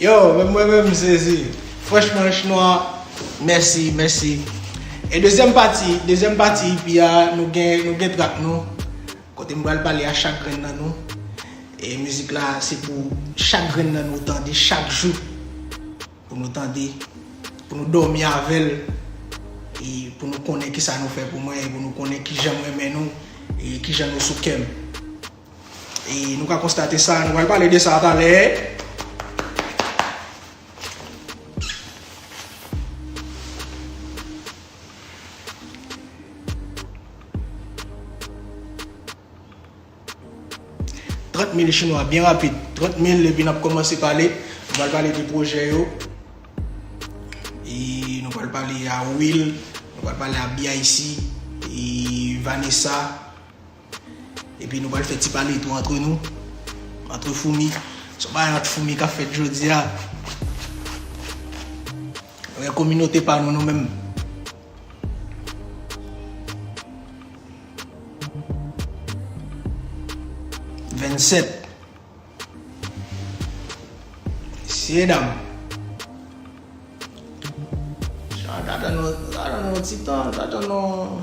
Yo, men mwen men m sezi. Franchman, chinwa, mèsi, mèsi. E dezyèm pati, dezyèm pati ipi a, nou gen, nou gen trak nou. Kote m pral pale a chak grenn nan nou e mizik la se pou chak grenn nan nou tande chak jou pou nou tande pou nou dòmi avèl e pou nou konnen kisa nou fè pou mwen e pou nou konnen kijan m renmen nou e kijan nou sou kèm e nou ka konstate sa nou pral pale de sa talè. Trant mil chinwa byen rapid. Trant mil epi nap komanse pale. Nou pral pale de pwojè yo. E nou pral pale a Will. Nou pral pale a BIC. E Vanessa. Epi nou pral fè ti pale tou antre nou, antre foumi. Son bagay ant foumi kap fèt jodi a. Nou gen kominote pa nou nou menm. Vennset. Mesye dam. Jan ta tann nou, ta tann nou ti tan, ta tann nou.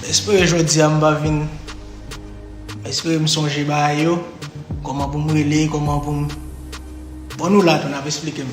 M espere jodi a m pa vin M espere m sonje bagay yo Kòman pou m rele Kòman pou m Bon nou la tou n ap esplike m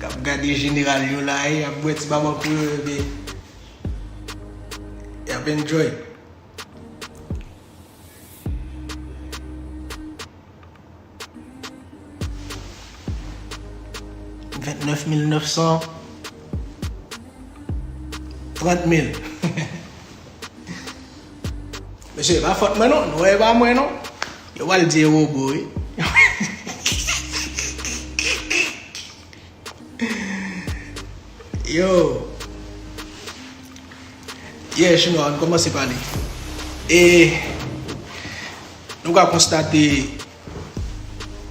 Kap gade jeneral yo la e yap bwè ti baba pou yo epi yap enjoy. Vent nèf mil nèf san trant mil. Mesye e pa fòt mwen non, non e pa mwen non, yo pral di e robo wi. Yo Yeah chinwa an kòmanse pale. E Nou ka konstate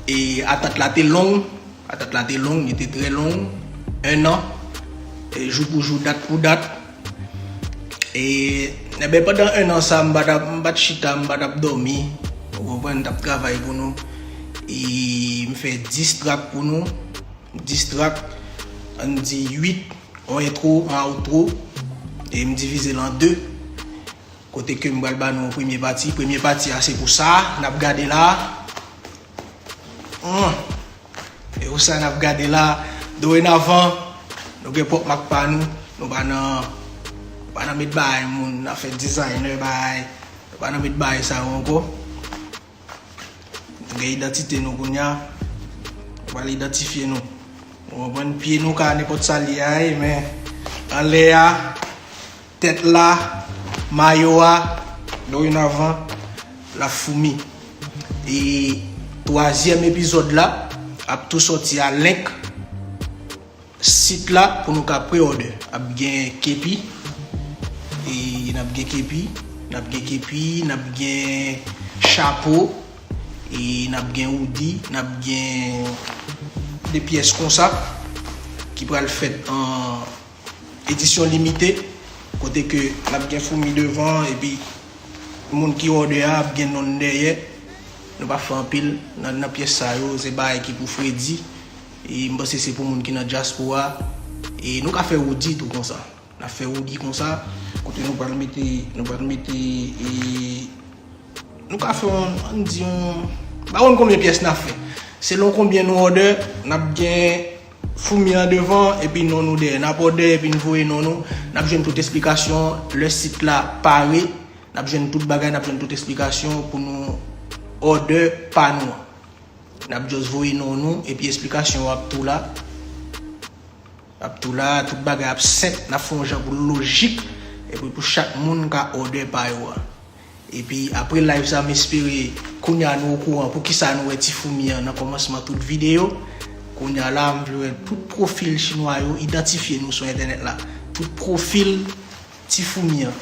E atant la te long, atant la te long, li te trè long, 1 an, jou pou jou, dat pou dat. E, enben, pandan 1 an sa, m pa t chita, m pa t ap dòmi, ou konprann, m t ap travay pou nou. E m fè 10 trak pou nou, 10 trak, an n di 8, yon entwo, yon outro, e m divize l an 2. Kote ke m pral ba nou yon premye pati. Premye pati a se pou sa a n ap gade la a. Humm! Se pou sa a n ap gade la a. Dorenavan, nou gen pwòp mak pa nou. Nou pa nan, nou pa nan met bagay moun, nan fè designer bagay. Nou pa nan met bagay sa yo ankò. Nou gen idantite nou kounye a. Yo pral idantifye nou. Ou konprann? Pye nou ka nenpòt sa l ye a ye men anlè a, tèt la, mayo a dorenavan l ap foumi. E twazyèm epizòd la ap tou sòti a lenk Sit la pou nou ka pre-order. Ap gen kepi e nap gen kepi, nap gen kepi, nap gen chapo e nap gen oudi, nap gen de pyès konsa ki pral fèt an edisyon limite kote ke lap gen foumi devan epi moun ki order a ap gen nonn dèyè. Nou pa fè anpil nan pyès sa yo, se bagay ki pou fredi. E m panse se pou moun ki nan dyaspora. E nou ka fè Roody tou konsa. N ap fè Roody konsa. Kote nou pral mete, nou pral mete e nou ka fè yon, an n di yon, m pa konn konbyen pyès n ap fè. Selon konbyen nou òdè, n ap gen foumi an devan epi non nou dèyè. N ap òdè epi n voye non nou. N ap jwenn tout esplikasyon lè sit la pare. N ap jwenn tout bagay, n ap jwenn tout esplikasyon pou nou òdè pa nou an. Nap just voye non nou epi esplikasyon yo ap tou la ap tou la tout bagay ap senp nap fè yon jan pou l lojik epi pou chak moun ka order pa yo a epi apre live sa m espere kounya nou okouran poukisa nou wè ti foumi an nan kòmansman tout video kounya la m vle wè tout profil chinwa yo idantifye nou sou entènèt la tout profil ti foumi an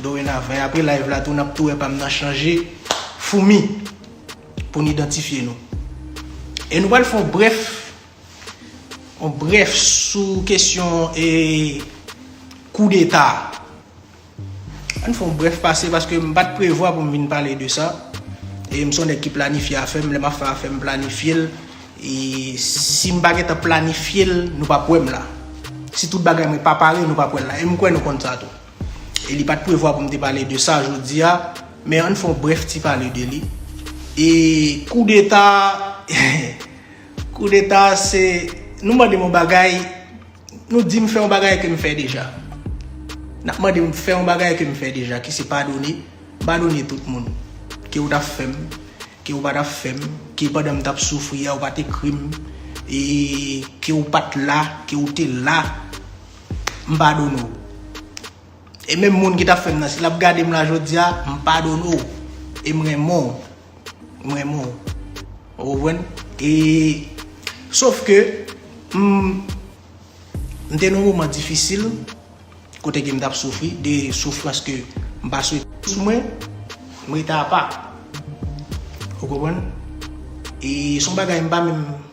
dorenavan e apre live la tou nap tou wè pa m nan chanje foumi. pou n idantifye nou. E nou pral fè yon brèf, yon brèf sou kesyon e koudeta. An n fè yon brèf pase paske m pa t prevwa pou m vin pale de sa. E m se yon nèg ki planifye afè m, lè m ap fè afè m planifye l. E si m pa gen tan planifye l, nou p ap wè m la. Si tout bagay mwen pa pare, nou p ap wè l la. E m kwè nou konn sa tou. e li pat prevwa pou m te pale de sa jodi a, men ann fè yon brèf ti pale de li. E koudeta, koudeta se, nou mande m yon bagay, nou di m fè yon bagay ke m fè deja. N ap mande m fè yon bagay ke m fè deja ki se padone, m padone tout moun. Ke ou ta fè m, ke ou pa ta fè m, ke pandan m t ap soufri a ou pa t ekri m, e ke ou pat la, ke ou te la. m padone w. E menm moun ki tap fè m nan si lap gade m la jodi a, m padone w. E m renmen w. M renmen w. Ou konprann? E sof ke m m te nan yon moman difisil kote ke m tap soufri de soufrans ke m pa swete sou mwen, m rete apa. Ou konprann? E son bagay m pa menm.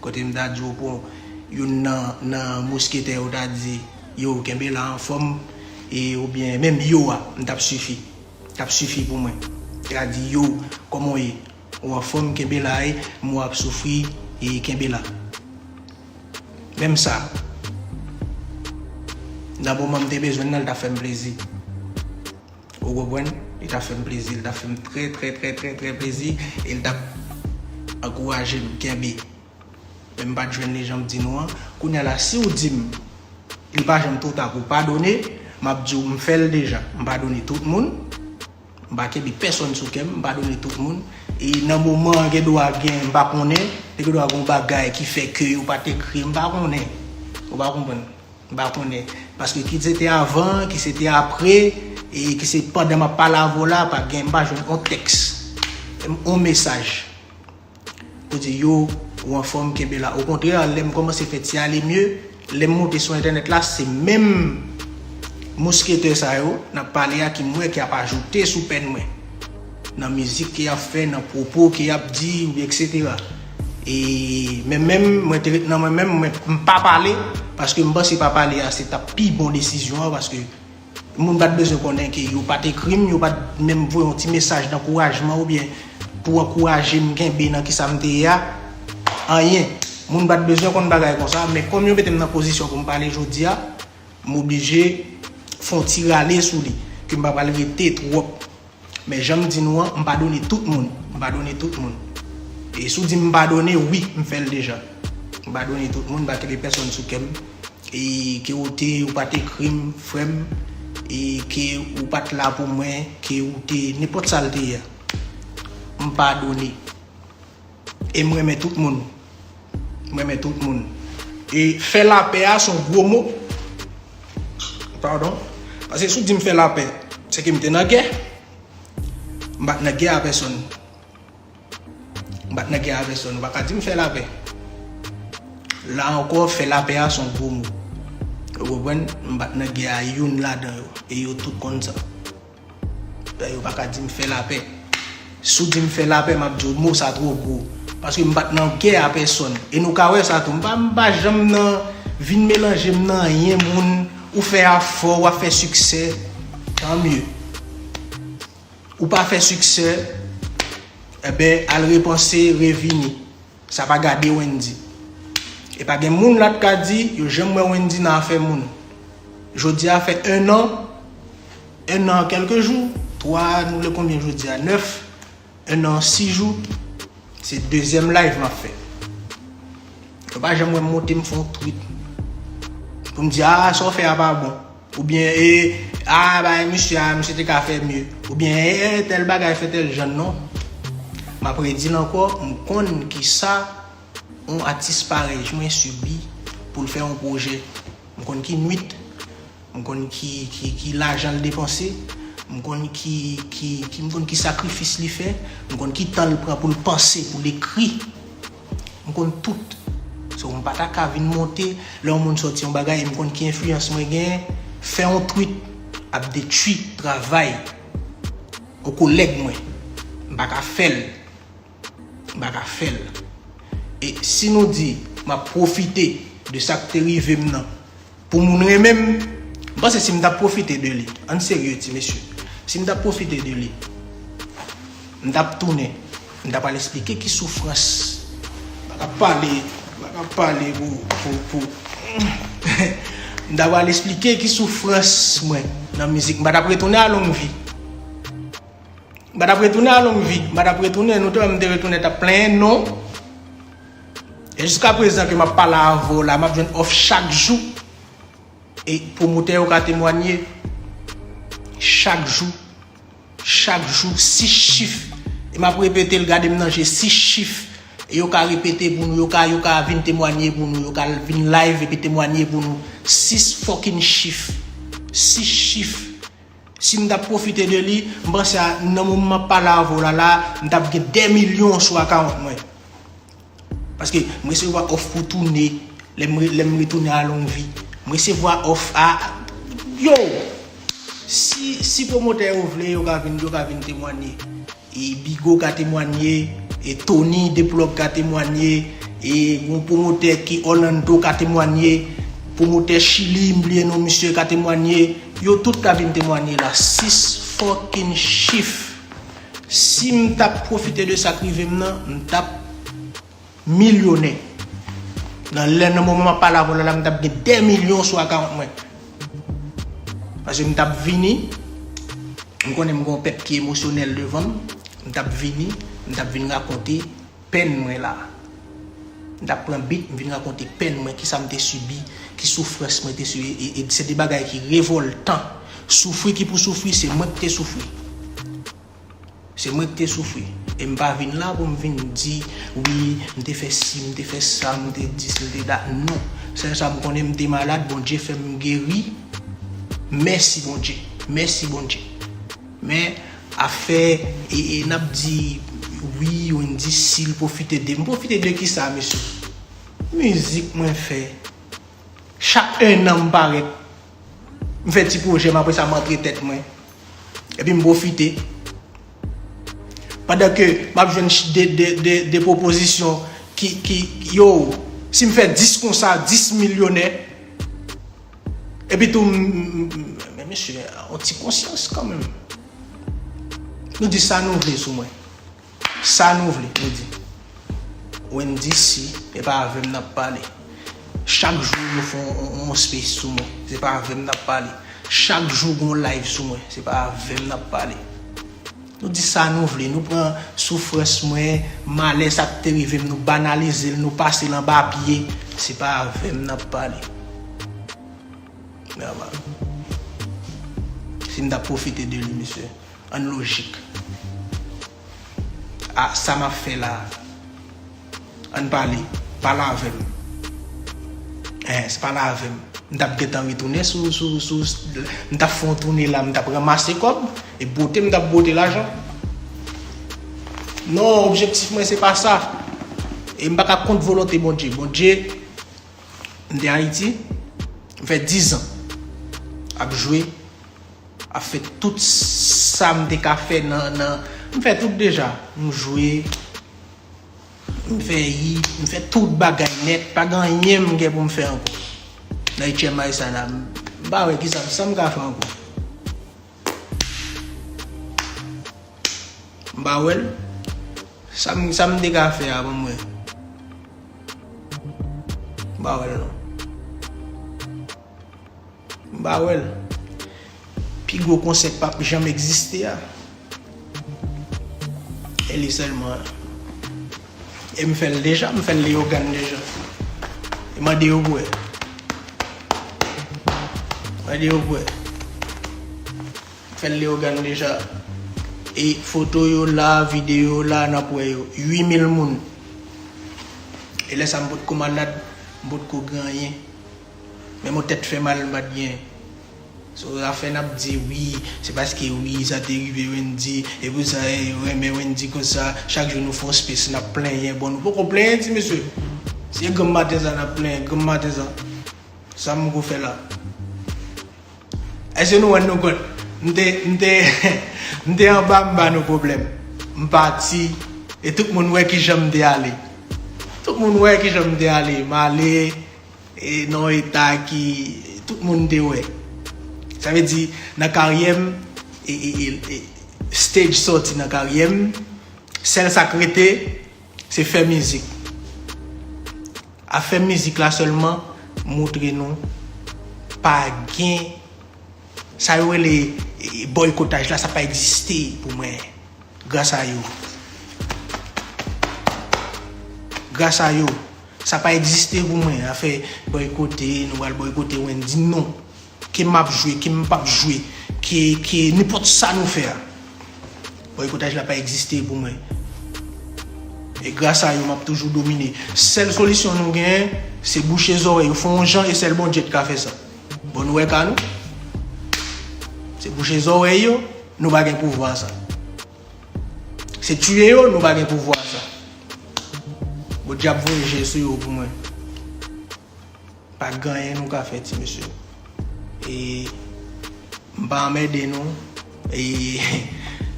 Kote m ta di w pou youn nan mousketè yo ta di yo kenbe la anfòm e oubyen menm yo a m tap sifi tap sifi pou mwen ta di yo kòman w ye ou anfòm kenbe la e m wè w ap soufri e kenbe la menm sa nan moman m te bezwen nan l ta fè m plezi. Ou konprann? Li tap fè m plezi, li tap fè m trè trè trè trè trè plezi e li tap ankouraje m kenbe. Men m pat jwenn li jan m di nou an. Kounya la si w di m li pa janm two ta pou w padone, m ap di w m fè l deja. M padone tout moun, m pa kenbe pèsonn sou kè m, m padone tout moun e nan moman an gen dwa gen, m pa konnen, te gen dwa gen yon bagay ki fè ke yo pat ekri, m pa konnen. Ou pa konprann? M pa konnen. Paske ki se te avan, ki se te apre, e ki se pandan m ap pale avè w la, pa gen, m pa jwenn on tèks, on mesaj pou di yo, ou anfòm, kenbe la. Okontrè, lè m kòmanse fè ti ale mye, lè m monte sou entènèt la, se menm mousketè sa yo n ap pale a ki m wè ki ap ajoute sou pèn mwen. nan mizik ke yap fè, nan pwopo ke yap di oubyen eksetera. E men menm mwen te ret nan mwen menm mwen mpa pale paske mpanse pa pale a se tap pi bon desizyon an paske moun pat bezwen konnen ke yo pat ekrim, yo pat menm voye yon ti mesaj dankourajman oubyen pou ankourajem kenbe nan kisa mte ye a. Anyen. Moun pat bezwen konn bagay konsa men kòm yo metem nan pozisyon poum pale jodia moblije fon ti rale sou li ke mpa pral rete twòp Men janm di nou an, m padone tout moun. M padone tout moun. E si w di m m padone, wi, m fè l deja. M padone tout moun, m pa kenbe pèsonn sou kè m. E ke ou te, ou pa t ekri m, frè m. E ke ou pa t la pou mwen, ke ou te nenpòt sa l te ye a. M padone. E m renmen tout moun. M renmen tout moun. E fè lapè a son gwo mo. Pardon. Pase si w di m fè lapè, se ke m te nan gè. M pa t nan gè a pèsonn. M pa t nan gè a pèsonn. Ou pa ka di m fè lapè. La ankò, fè lapè a son gwo mo. Ou konprann? M pa t nan gè a youn ladan yo. E yo tout konn sa. Yo pa ka di m fè lapè. Si w di m fè lapè, m ap di w mo sa twò gwo. Paske m pa t nan gè a pèsòn. E nou ka wè sa tou. M pa janm nan vin melanje m nan anyen moun. Ou fè a fò, w ap fè siksè. Tant mieux. Ou pa fè siksè, enben al repanse, revini. Sa pa gade Wendy. E pa gen moun la t ka di yo janm wè Wendy nan afè moun. Jodi a fè 1 an, 1 an kèlke jou, 3 nou le konbyen jodi a 9, 1 an 6 jou, se dezyèm live m ap fè. Ou pa janm wè m monte m fè yon tweet pou m di a sa w fè a pa bon. Ou byen ee, aa bagay misye aa misye te ka fè mye. Ou byen ee, tèl bagay fè tèl jan non. M ap redi l ankò, m konn kisa yon atis parèy mwen sibi pou l fè yon pwojè. M konn ki nwit, m konn ki lajan l depanse, m konn ki sakrifis li fè, m konn ki tan l pran pou l panse, pou l ekri. M konn tout. So m pa ta ka vin monte lè yon moun sòti yon bagay e m konn ki enfliyans mwen genyen, fè yon tweet ap detwi travay yon kolèg mwen. M pa ka fè l. M pa ka fè l. E si nou di m ap pwofite de sa k te rive m nan Pou moun renmen m, m panse si m ta pwofite de li, ann serye ti mesye, si m ta pwofite de li, m ta p tounen, m ta p al esplike ki soufrans, m pa ka p pale, m pa ka p pale pou, pou, m ta p al esplike ki soufrans mwen nan mizik, m pa ta p retounen a Longvi, m pa ta p retounen a Longvi, m pa ta p retounen, nou te wè m te retounen ta p plenyen, non. E jiska prezan ke map pale avè w la map jwenn òf chak jou e pwomotè yo ka temwanye chak jou chak jou 6 chif e map repete l gade m nan je 6 chif e yo ka repete pou nou yo ka yo ka vin temwanye pou nou yo ka vin live epi temwanye pou nou 6 fòkinn chif 6 chif. Sim tap profite de li, m panse a nan moman map pale avè w la la, m tap gen 2 milyon sou account mwen. Paske m resevwa off pou toune, lèm retounen a longvi. M resevwa off a, yo! Si promotè yo vle yo ka vin temwanye. E Bigo ka temwanye, e Tony de Plug ka temwanye, e yon pwomotè ki Orlando ka temwanye, pwomotè Chili m bliye non misye ka temwanye, yo tout ka vin temwanye la 6 fucking chif. Sim tap pwofite de sak rivem nan, m tap. Milyonè. Nan lè nan moman map pale avèw la la m tap gen 2 milyon sou account mwen. Paske m tap vini, m konnen m gen yon pèp ki emosyonèl devanm, m tap vini, m tap vin rakonte pèn mwen la. M tap pran beat m vin rakonte pèn mwen, kisa m te sibi, ki soufrans mwen te sibi e e se de bagay ki revoltan. Soufri ki pou soufri se mwen ki te soufri. Se mwen ki te soufri. E m pa vin la pou m vin di, wi, m te fè si, m te fè sa, m te di si, m te da. Non. Sèl sa m konnen, m te malad, Bondye fè m geri. Mèsi Bondye. Mèsi Bondye. Men, afè e n ap di, wi, ou n di si, l pwofite de m. M pwofite de ki sa, mesye? Mizik mwen fè. Chak ennan m parèt. M fè ti pwojè m apre sa m antre tèt mwen. Epi m pwofite. Pandan ke m ap jwenn 2 pwopozisyon ki yow si m fè 10 konsa 10 milyonè. Epi tou m men mesye yon ti konsyans kanmenm. Nou di sa nou vle sou mwen. Sa nou vle, nou di tou. Wendy si e pa avè m nap pale. Chak jou yo fè yon space sou mwen, se pa avè m nap pale. Chak jou gen yon live sou mwen, se pa avè m nap pale. Nou di sa nou vle, nou pran soufrans mwen, malè sa k te rive m, nou banalize l, nou pase l anba pye, se pa avè m nap pale. Mè a mal. Si m ta pwofite de li mesye. An lojik. A sa map fè la. An pale. Pale avèm. Eeh se pale avèm. M tap gentan retounen sou sou m tap fè yon toune la m tap ranmase kòb e bwote m tap bwote lajan. Non objektif mwen se pa sa. E m pa ka kont volonte Bondye. Bondye m te Ayiti m fè 10 zan ap jwe. Ap fè tout sa m te ka fè nan. M fè tout deja. M jwe, m fè yi, m fè tout bagay nèt. Pa gen anyen m gen pou m fè ankò. Nan HMI sa la. M pa wè kisa sa m ka fè ankò. M pa wè l. Sa m te ka fè a pou mwen. M pa wè l non. M pa wè l. Pi gwo konsè k pa p janm egziste a. E li sèlman an. E m fè l deja, m fè l Leyogàn deja. E mande yo bwè. Mande yo bwè. M fè l Leyogàn deja. E foto yo la, videyo yo la, n ap wè yo. 8.000 moun. E lè sa m potko malad, m potko gen anyen. Men mwen tèt fè mal m pat gen. So afè nap di wi se paske wi sa te rive Wendy e pou sa e yo renmen Wendy konsa chak jou nou fon space nap plenyen bon nou poko plenyen ti mesye se granm maten sa nap plenyen granm maten sa sa m ko fè la eske nou rann nou kont m te m te m te anba m ba nou pwoblèm m pati e tout moun wè kijan m te ale tout moun wè kijan m te ale m ale E nan yon eta ki tout moun te wè. Sa vle di nan karyè m, stage sòti nan karyè m, sèl sa k rete se fè mizik. Afè mizik la sèlman moutre nou pa gen sa yo rele bòykotaj la sa pa egziste pou mwen. Gras a yo. Gras a yo. Sa pa egziste pou mwen afè boykote, nou pral boykote Wendy non. Ke map jwe, ke m pap jwe, ke ke nenpòt sa nou fè a. Boykotaj la pa egziste pou mwen. E gras a yo map toujou domine. Sèl solisyon nou gen, se bouche zòrèy yo, fè yon jan e sèl Bondye t ka fè sa. Bon nou wè ka nou. Se bouche zòrèy yo, nou pa gen pouvwa sa. Se tuye yo nou pa gen pouvwa sa. Bon diab voye je sou yo pou mwen. Pa ganyen nou ka fè ti mesye. E m pa anmède nou. E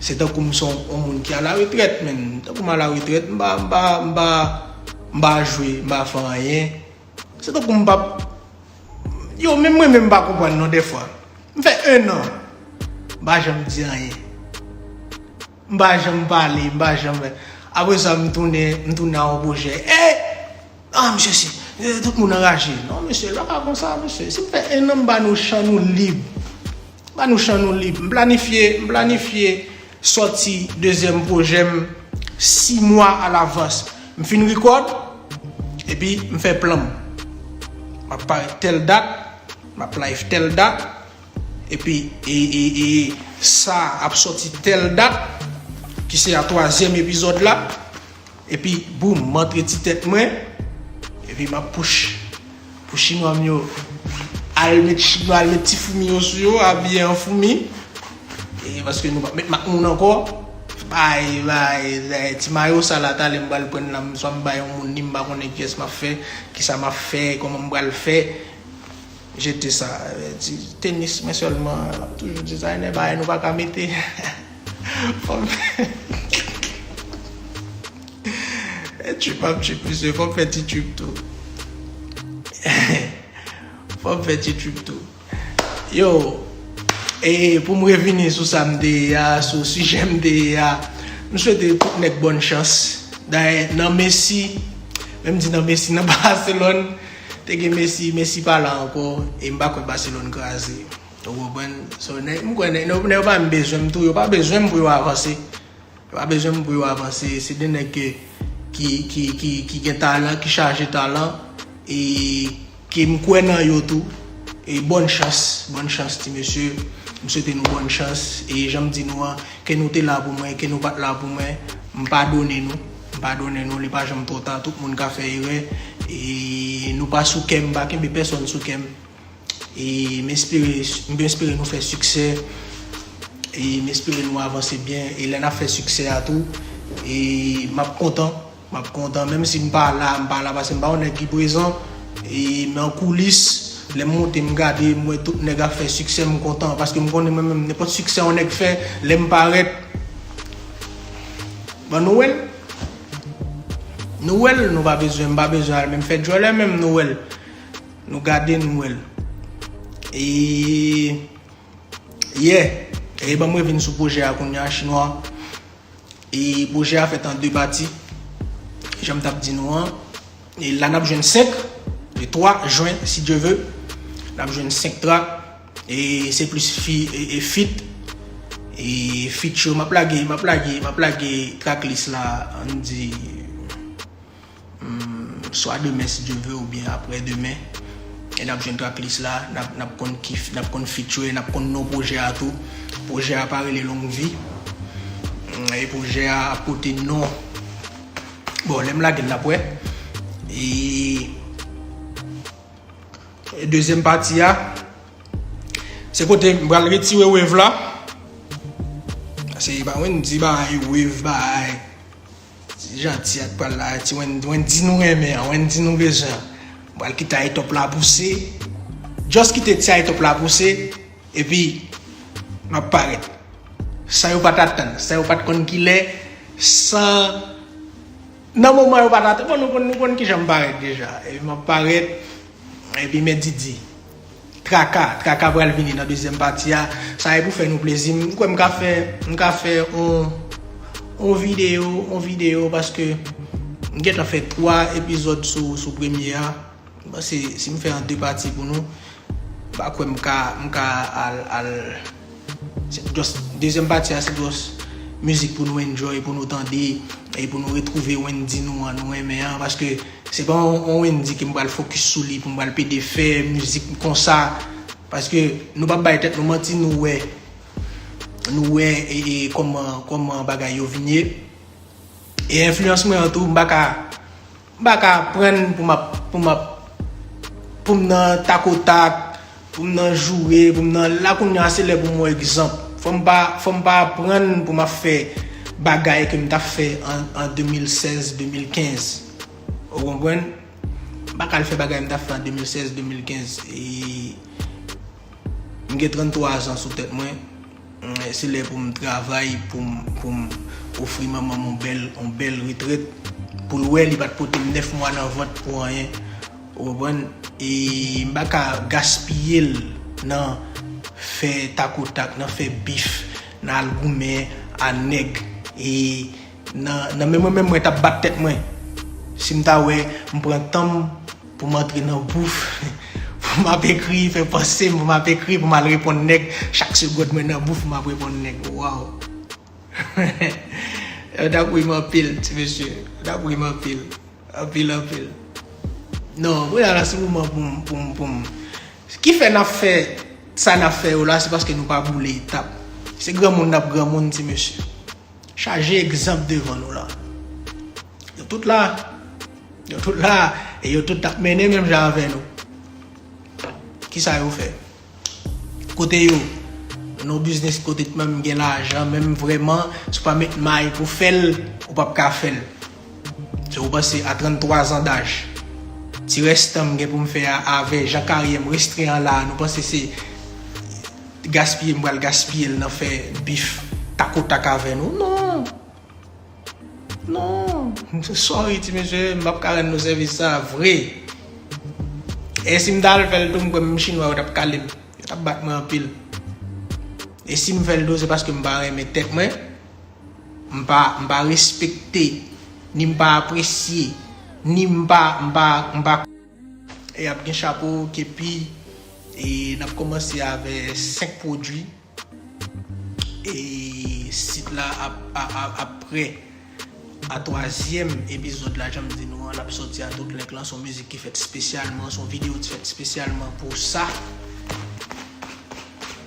se tankou m son on moun ki ala retrèt menm. Tankou m ala retrèt m pa m pa m pa jwe m pa fè anyen. Se tankou m pap Yo menm mwen menm m pa konprann non dèfwa M fè 1 an M pa janm di anyen M pa janm pale M pa janm Apre sa m tounen M tounen ak yon pwojè Hey Ah mesye si Tout moun anraje Non mesye lè pa konsa mesye Si m fè 1 an m ba nou chan nou lib M ba nou chan nou lib M planifye M planifye Sòti dezyèm pwojè m 6 mwa alavans. M fin record epi m fè plan m. Map parèt tèl dat, map live tèl dat, epi sa ap sòti tèl dat ki se a twazyèm epizòd la. Epi boom m antre ti tèt mwen epi map push pou chinwa m yo al met chinwa al met ti foumi yo sou yo abiye an foumi e paske nou pap met mak moun ankò bay bay ti mayo sa la talè m pral prann la swa m bay yon moun li m pa konnen kiyès map fè kisa map fè kòman m pral fè. Jete sa di tenis men selman lap toujou designer bagay nou paka mete fom fè trip ap trip mesye fom fè ti trip tou fom fè ti trip tou yo e poum revini sou sam te ye a sou sijè m te ye a m swete tout nèg bòn chans dayè nan messi menm di nan messi nan baselòn Te gen Messi, Messi pa la ankò e m pa kwè Barcelone kraze. Ou konprann? So nèg m kwè nèg yo nèg yo pa menm bezwen m tou, yo pa bezwen m pou yo avanse. Yo pa bezwen m pou yo avanse. Se 2 nèg ke ki ki ki ki gen talan, ki chaje talan e ke m kwè nan yo tou. E bòn chans, bòn chans ti mesye. M swete nou bòn chans e jan m di nou an, ke nou te la pou mwen, ke nou pa t la pou mwen, m padone nou. Padonnen nou li pa janm twò ta tout moun ka fè erè e nou pa sou kèm m pa kenbe pèsòn sou kèm e m espere m espere nou fè siksè e m espere nou avanse byen e lè nap fè siksè a tou e map kontan map kontan menm si m pa la m pa la paske m pa yon nèg ki prezan e men an koulis lè m monte m gade m wè tout nèg ap fè siksè m kontan paske m konnen mwen menm nenpòt siksè yon nèg fè lè m parèt Bon Noël Noël nou pa bezwen m pa bezwen al menm fè djòlè menm Noël nou gade Noël e yè e banm revin sou pwojè a kounya chinwa e pwojè a fèt an 2 pati janm tap di nou an. E la nap jwenn 5 le 3 jwen si Dieu veut nap jwenn 5 track e se plis fi e fit e fit yo map lage map lage map lage track list la ann di swa demen si Dieu veut ou byen aprè demen e nap jwenn track list la nap konn ki nap konn fit yo e nap konn non projè a tou projè a pa rele longue vie e projè a ap pote non Bon lem lagel nap we. E deuxième partie a se kote m pral retire wave la. Se ba wen di ba ay wave ba ay. Ti janti ak pral la ti wen wen di nou renmen an, wen di nou bezwen. M pral kite ay top la pouse. Just kite ti ay top la pouse. Epi, m ap parèt. San yo pa t atann, san yo pa t konn ki lè, san Nan moman yo pa t atann, bon nou konn nou konn ki jan m parèt deja. Epi m ap parèt, epi men Didi, Traka, Traka pral vini nan dezyèm pati a, sa se pou fè nou plezi. M kwè m ka fè, m ka fè on, on videyo, on videyo paske m gen tan fè 3 epizòd sou, sou premye a. M panse si m fè an 2 pati pou nou, m pa kwè m ka, m ka al, al Se just, dezyèm pati a se just mizik pou nou enjoy, pou nou tande e pou nou retwouve Wendy nou an, nou renmen an paske se pa yon Wendy ke m pral fokis sou li, pou m pral pede fè mizik konsa paske nou pa bay tèt nou manti, nou wè nou wè e kòman, kòman bagay yo vin ye e enfliyans mwen an tou, m pa ka M pa ka aprann pou m ap, pou m ap, pou m nan takotak, pou m nan joure, pou m nan, la kounye a se lè pou m wè egzanp. Fò m pa, fò m pa aprann pou m ap fè bagay ke m t ap fè an 2016, 2015. Ou konprann? M pa ka al fè bagay m t ap fè an 2016, 2015. E, m gen 33 zan sou tèt mwen. Se lè pou m travay pou m ofri manman m yon bèl retrèt pou l wè li pa t pote m 9 mwa nan vant pou anyen ou konprann e m pa ka gaspiye l nan fè takotak nan fè bif nan al goumen a nèg e Nan men mwen menm mwen tap bat tèt mwen si m ta wè m pran tan m pou m antre nan bouf pou m ap ekri fè panse m pou m ap ekri pou m al reponn nèg chak segond mwen nan bouf m ap reponn nèg waww yo tap ri m anpil ti mesye yo tap ri m anpil anpil anpil non kounya la se moman pou m pou m pou m ki fè n ap fè sa n ap fè yo la se paske nou pa boule etap se granmoun n ap granmoun ti mesye. Chaje egzanp devan nou la. Yo tout la. Yo tout la. E yo tout tap mennen menm jan avè nou. Kisa yo fè? Kote yo? Non biznis kote t menm gen lajan menm vrèman. Si w pa met may pou fè l, ou pap ka fè l. Jan ou panse a 33 zan daj. Ti rès tan m gen pou m fè a avè jan karyè m restren an la a nou panse se gaspiye m pral gaspiye l nan fè bif tak o tak avè nou non non sorry ti mesye m pap ka rann nou sèvis sa a vre e si m ta al fè l tou m kwè menm chinwa yo t ap kale m yo t ap bat mwen anpil e si m fè l tou se paske m pa renmen tèt mwen. M pa, m pa respekte, ni m pa apresye, ni m pa, m pa, m pa. E ap gen chapo, kepi, e n ap kòmanse avè 5 pwodui e sit la ap, ap prè a twazyèm epizòd la janm di nou an l ap sòti a tout lèk lan s on mizik ki fèt spesyalman s on videyo ki fèt spesyalman pou sa.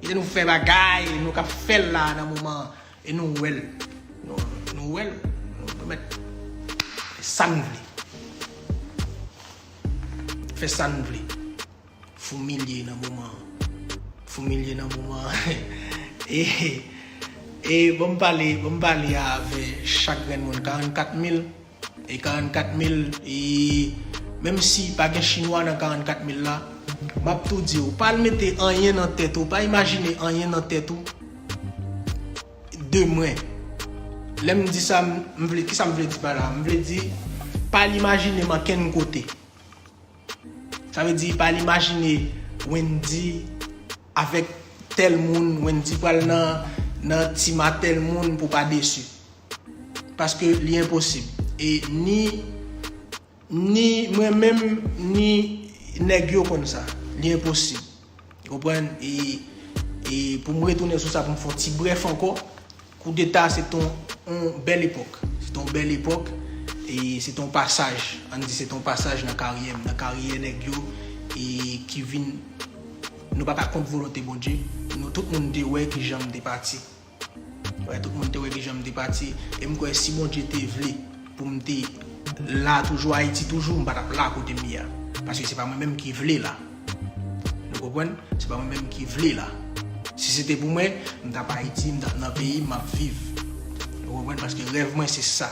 Kite nou fè bagay nou kap fèl la nan moman an e nou wèl. Nou wèl nou mèt fè sa nou vle. Fè sa nou vle. Foumilye nan moman an. Foumilye nan moman an. E banm pale, banm pale avè chak grenn moun 44 mil. E 44 mil e menm si pa gen chinwa nan 44 mil la map tou diw pa al mete anyen nan tèt ou pa imajine anyen nan tèt ou de mwen lèm di sa m vle kisa m vle di pa la m vle di pa al imajine m ankenn kote sa vle di pa al imajine Wendy avèk tèl moun Wendy pral nan nan ti ma tèl moun pou pa desu. Paske li enposib. E ni ni mwen menm ni nèg yo konn sa. Li enposib. Konprann? E e pou m retounen sou sa pou m fè yon ti brèf ankò, koudeta se te yon bèl epòk. Se te yon bèl epòk e se te yon pasaj. An n di se te yon pasaj nan karyè m, nan karyè nèg yo e ki vin nou pa ka kont volonte Bondye. Nou tout moun te wè ki jan m te pati. Wè tout moun te wè kijan m te pati e m kwè si Bondye te vle pou m te la toujou Ayiti toujou m pa tap la kote m ye a paske se pa mwen menm ki vle la nou konprann se pa mwen menm ki vle la si se te pou mwen m tap Ayiti m tap nan peyi m map viv nou konprann paske rèv mwen se sa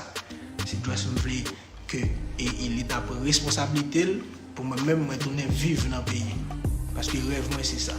se just m vle ke e leta pran responsablite l pou mwen menm mwen tounen viv nan peyi m paske rèv mwen se sa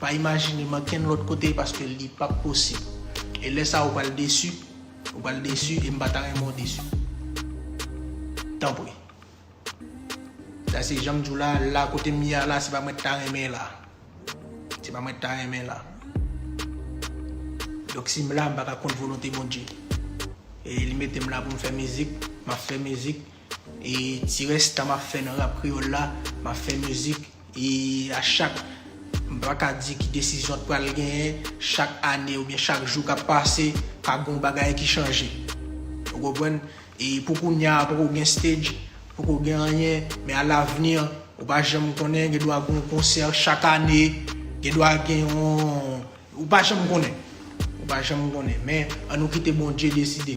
Pa imajinem ankenn lòt kote paske li pap posib. E lè sa ou pral desi, ou pral desi e m pa ta renmen w desi. Tanpri. Sa se jan m di w la, la kote m ye a la se pa mwen t ta renmen la. Se pa mwen t ta renmen la. Donk si m la m pa ka kont volonte Bondye. E li mete m la pou m fè mizik, m ap fè mizik. E ti rès tan map fè nan rap kreyòl la, map fè mizik e a chak m pa ka di ki desizyon t pral genyen, chak ane oubyen chak jou kap pase ka gon bagay ki chanje ou konprann e pou kounya poko gen stage, poko gen anyen men a l'avenir ou pa janm konnen gen dwa gon konsè chak ane, gen dwa gen yon ou pa janm konnen, ou pa janm konnen men an nou kite Bondye deside.